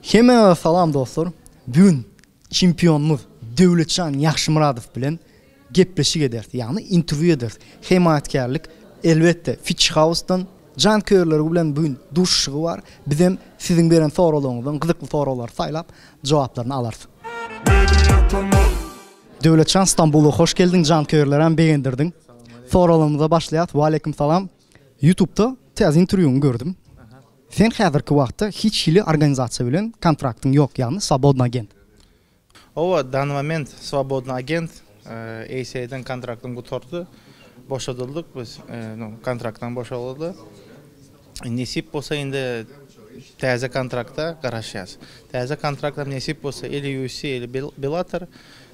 Hemmäňize salam dostlar! Bu gün çempionymyz Döwletjan Ýagşymyradow bilen gepleşik ederis, ýagny interwýu ederis. Hemaýatkärlik elbetde Fitch House-dan. Janköýerleri bilen bu gün duşuşygy bar. Biz hem siziň beren soraglaryňyzdan gyzykly soraglary saýlap, jogaplaryny alarys. Döwletjan Stambula hoş geldiň, janköýerleri hem begendirdiň. Soraglarymyza başlaýarys. Waleýkim salam. Ýutubda täze interwýuňy gördüm. Sen häzirki wagtda hiç hili organizasiýa bilen kontraktyň ýok, ýagny swobodny agent. Owa, dany moment swobodny agent, ACA-den kontraktym gutardy, boşadyldyk biz, no kontraktdan boşalyldy. Nesip bolsa indi täze kontrakta garaşýas. Täze kontrakt hem nesip bolsa ili UFC, ili Bellator.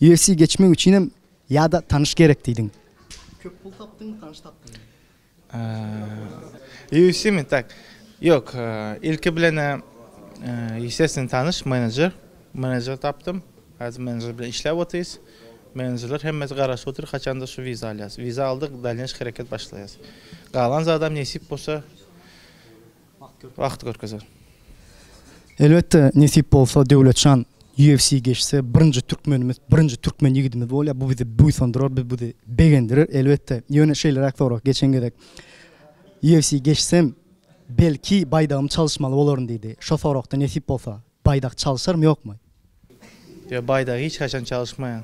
Ýersi geçmek üçinem ýa-da tanyş gerek diýdiň. Köp pul tapdyňmy, tanyş tapdyňmy? Ýersimi tak. Ýok, ilki bilen-ä ýesesine tanyş menejer, menejer tapdym. Häzir menejer bilen işläp otyrys. Menejerler hemmesi garaşyp otyr, haçanda şu wiza alýas. Wiza aldyk, dalneş hereket başlaýas. Galan zadam nesip bolsa. wagt görkezer. Elbetde nesip bolsa Döwletjan UFC geçse birinji türkmenimiz birinji türkmen ýigidimiz bolýar bu bizi buýsandyrar biz bizi begendirer elbetde ýöne şeýleräk sorag geçen gezek UFC geçsem belki baýdagymy çalyşmaly bolaryn diýdi şo soragda nesip bolsa Baýdak çalyşarmy ýokmy? Ýok, baýdagy hiç haçan çalyşmaýan.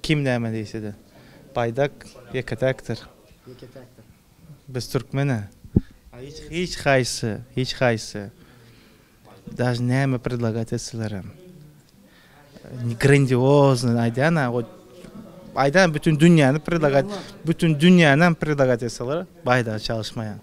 Kim näme diýse-de. Baýdak ýeke-täkdir. Ýeke-täkdir. Biz türkmen-ä. Hiç, hiç haýsy, hiç haýsy daže näme predlagat etselerem, grandioznyny aýdýan-a, aýdaýan bütin dünýäni predlagat, bütin dünýänam predlagat etseler, baýdagy çalyşmaýan.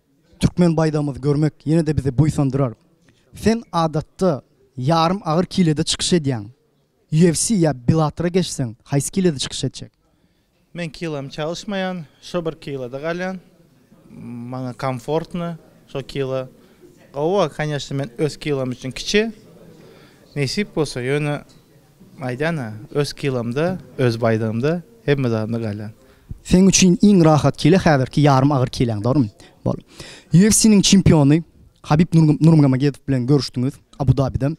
Türkmen baýdagymyzy görmek ýene-de bizi buýsandyrar. Sen adatda ýarym agyr kilede çykyş edýäň. UFC ýa Bellatora geçseň, haýsy kilede çykyş etjek? Men kilamy çalyşmaýan, şo bir kilada galýan. Maňa komfortno şo kilo. Gowa, kanyýeşna, men öz kilom üçin kiçi. Nesip bolsa, ýöne Aýdana, öz kilomda, öz baýdygymda, hemme zadymda galýan. Seň üçin iň rahat kile häzirki ýarym agyr kileň, dogrymy? Bol. UFC-niň çempiony Habib Nurmgomedov bilen görüşdiňiz Abu Dabide.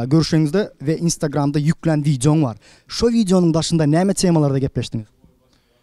Görüşeňizde we Instagramda ýüklän wideoň bar. Şo wideonyň daşynda näme temalarda gepleşdiňiz?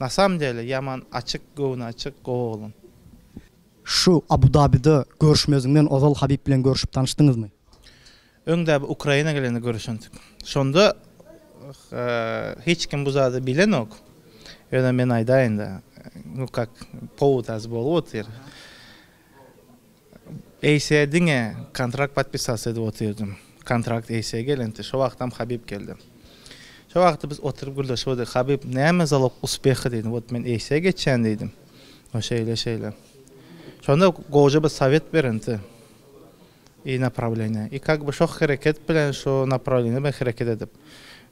Na samom dele ýaman açyk göwni açyk gowy oglan. Şu Abu Dabide görüşmeziňden ozal Habib bilen görüşüp tanyşdyňyzmy? Öňde bir Ukraina gelende görüşendik. Şonda hiç kim bu zady bilenok. Ýöne men aýdaýynda, nu kak powod az bolup otyr. Eýse diňe kontrakt podpisasiýa edip otyrdym. Kontrakt Eýse gelende, şo wagtam Habib geldi. Şo wagtda biz oturyp gürleşip otyrdyk. Habib, Näme zalog uspeha diýdi. Wot men Eýse geçýän diýdim. O şeýle şeýle. Şonda gowja bir sowet berindi. I naprawleniýa. I kak bi şo hereket bilen şo naprawleniýa bilen hereket edip.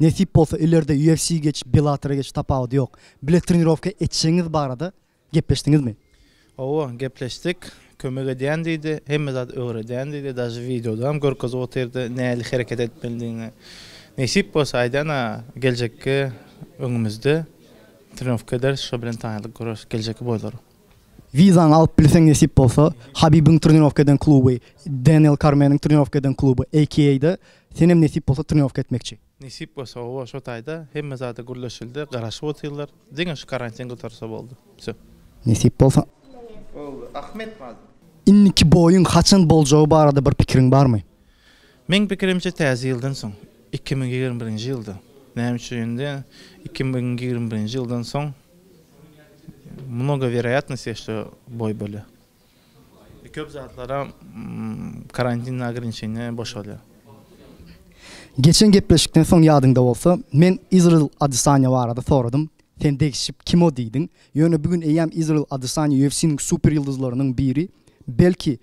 Nesip bolsa ileride UFC geç Bellatora geç tapawudy ýok. Bile trenirowka etjegiňiz barada gepleşdiňizmi? Hawa gepleşdik. Kömek edýän diýdi. Hemme zady öwredýän diýdi. Daže wideodam görkezip otyrdy nähili hereket etmelidigini. Nesip bolsa aýdana geljekki öňümizde trenirowka ederis şo bilen tanylyk göreris geljekki boýlara. Wizaňy alyp bilseň nesip bolsa, Habibiň trenirowka eden kluby, Deniel Kormeniň trenirowka eden kluby, AKA-da senem nesip bolsa trenirowka etmekçi. Nesip bolsa oba şo taýda hemme zada gürleşildi, garaşyp otyrlar. Diňe şu karantin gutarsa boldy. Wsyo. Nesip bolsa. Boldy. Ahmet Mazur. Indiki boýuň haçan boljagy barada bir pikiriň barmy? Meň pikirimçe täze ýyldan soň, iki müň ýigrimi birinji ýylda, näme üçin indi iki müň ýigrimi birinji ýyldan soň mnogo werayatnost diýýär şo boý bölä we köp zatlara karantin ograniçeniýa boşalýar. Geçen gepleşikden soň ýadyňda bolsa men Izrail Adesanya barada soradym, sen degişip kimo diýdiň, ýöne bu gün eýýäm Izrail Adesanya UFC-niň super ýyldyzlarynyň biri, belki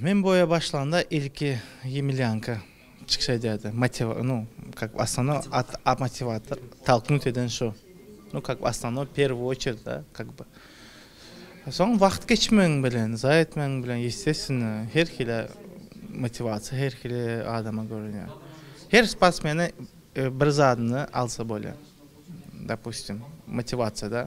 Men bu oýa başlanda ilki Ýemilýanka çykyş edýärdi. Motiwa, nu, kak by osnovnoý at a motiwator, talknut eden şu. Nu, kak by osnovnoý, perwü oçerd a, kak by. Soň wagt geçmegi bilen, zaýa etmegi bilen, ýesteswennä, her hili motiwasiýa her hili adama görünýär. Her sportsmene bir zadyny alsa bolýar. Dopustim, motiwasiýada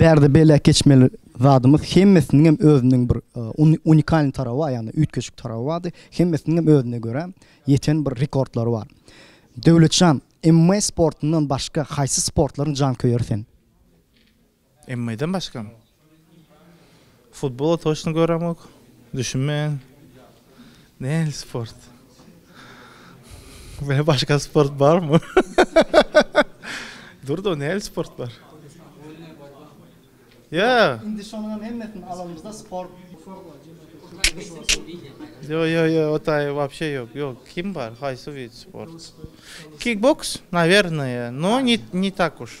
Bärde belläp geçmeli zadymyz hemmesiniňem özüniň bir unikalny tarawy bar, ýagny üýtgeşik tarawy bardy. Hemmesiniňem özüne görä ýeten bir rekordlary bar. Döwletjan, MMA sportundan başga haýsy sportlaryň janköýeri sen? MMA-den başgam? Futbola toçno göremok, düşünmeýän. Nähili sport? Bile başga sport barmy? Durdo nähili sport bar? Ýa. Indi şonuňam hemmesini alanymyzda sport. Ýo ýo ýo o taýy wapşe ýok ýok kim bar haýsy wid sport? Kikboks nawernaýe no ni ni tak uş.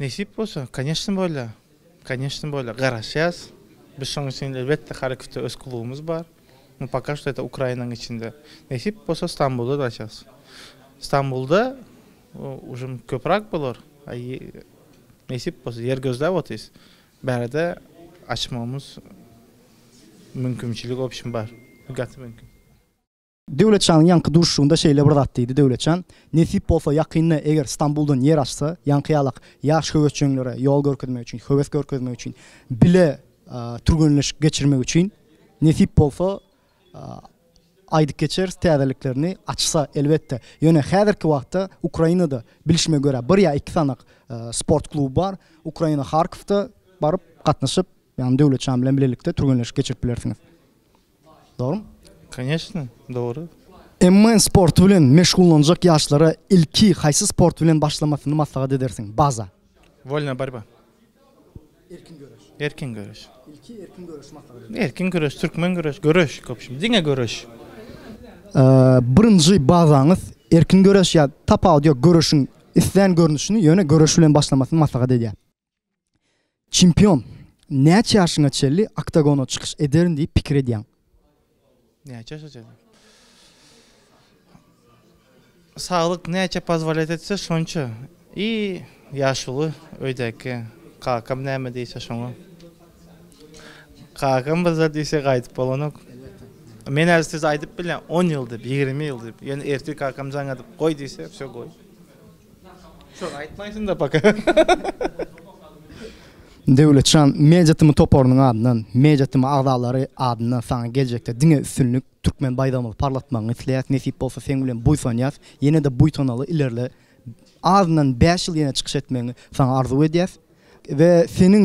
Nesip bolsa, koneşno bolýa, koneşno bolýa, garaşýas. Biz şoň üçin elbetde Harkowda öz klubumyz bar. Nu poka şto ete Ukrainanyň içinde. Nesip bolsa Stambulda da açarys. Stambulda ujm köprak bolar. Nesip bolsa ýer gözläp otyrys. Bärde açmagymyz mümkimçilik obşin bar. Gaty mümkin. Döwletjanyň ýaňky duşuşygynda şeýle bir zat diýdi, Döwletjan, nesip bolsa ýakynda eger Stambuldan ýer açsa, ýaňky ýalak ýaş höwesjeňlere ýol görkezmek üçin, höwes görkezmek üçin, bile türgenleşik geçirmek üçin, nesip bolsa aýdyp geçeris täzeliklerini açsa, elbetde. Ýöne häzirki wagtda Ukrainada bilşime görä bir ýa iki sanak sport kluby bar. Ukraina Harkowda baryp gatnaşyp, ýagny Döwletjan bilen bilelikde türgenleşik geçirip bilersiňiz. Dogrumy? Конечно, dogry. MN sporty bilen meşgullanjak ýaşlara ilki haýsy sport bilen başlamasyny maslahat edersiň? Baza. Wolna borba. Erkin göreş. Erkin göreş. Ilki erkin göreş maslahat edersiň. Erkin göreş, türkmen göreş, göreş köpşim, diňe göreş. Birinji bazaňyz erkin göreş ýa tapawut ýok göreşiň islän görnüşini ýöne göreş bilen başlamasyny maslahat edýär. Çempion, näçe ýaşyňa çenli oktagona çykyş ederin diýip pikir edýäň? Näçe ýaşa çenli? Saglyk näçe pozwolýat etse şonça. I ýaşuly öýdäki kakam näme diýse şoňa. Kakam bir zat diýse gaýdyp bolanok. Men häzir size aýdyp bilýän, on ýyl diýip, ýigrimi ýyl diýip. Ýöne ertir kakam jaň edip goý diýse, wse goý. Döwletjan Media tm toparynyň adyndan, Media tm agzalary adyndan saňa geljekde diňe üstünlik, Türkmen baýdagymyzy parlatmagyňy isleýäs, nesip bolsa seň bilen buýsanýas, ýene-de buýsanaly ilerle, azyndan bäş ýyl ýene çykyş etmegiňi saňa arzuw edýäs we seniň